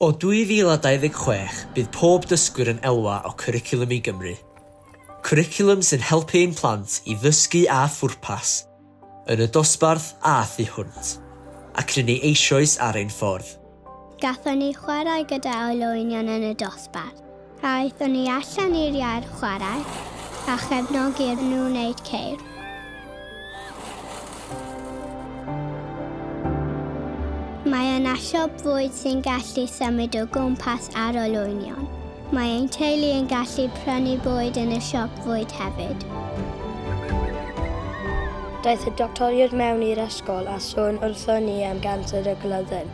O 2026, bydd pob dysgwyr yn elwa o Cwricwlwm i Gymru. Cwricwlwm sy'n helpu ein plant i ddysgu â phwrpas, yn y dosbarth a thu hwnt, ac rŷn ni eisioes ar ein ffordd. Gallwn ni chwarae gyda olwynion yn y dosbarth. Aethon ni allan i'r iard chwarae a chefnogi iddyn nhw wneud ceir. Mae yna siop fwyd sy'n gallu symud o gwmpas ar olwynion. Mae ein teulu yn gallu prynu bwyd yn y siop fwyd hefyd. Daeth y doctoriaid mewn i'r ysgol a sôn wrthon ni am ganser y glydden.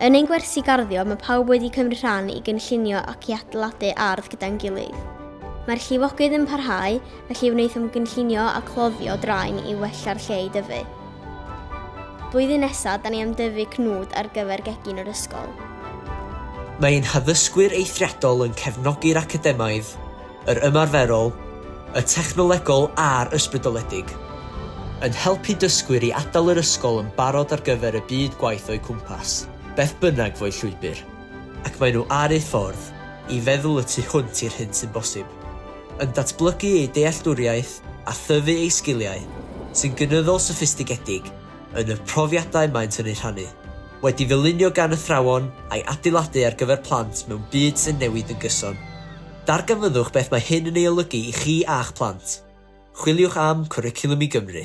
Yn ein gwersi garddio mae pawb wedi cymryd rhan i gynllunio ac i adeiladu ardd gyda'n gilydd. Mae'r llifogydd yn parhau, felly wnaethom gynllunio a cloddio draen i wella'r lle i dyfu. Blwyddyn nesaf, da ni am dyfu cnwd ar gyfer gegin yr ysgol. Mae ein haddysgwyr eithriadol yn cefnogi'r academaidd. yr ymarferol, y technolegol a'r ysbrydoledig, yn helpu dysgwyr i adael yr ysgol yn barod ar gyfer y byd gwaith o'u cwmpas, beth bynnag fo'u llwybr, ac maen nhw ar eu ffordd i feddwl y tu hwnt i'r hyn sy'n bosib, yn datblygu eu dealltwriaeth a thyfu eu sgiliau, sy'n gynyddol soffistigedig yn y profiadau maent yn eu rhannu, wedi ddylunio gan athrawon a'i adeiladu ar gyfer plant mewn byd sy'n newid yn gyson. Darganfyddwch beth mae hyn yn ei olygu i chi a'ch plant. Chwiliwch am Cwricwlwm i Gymru.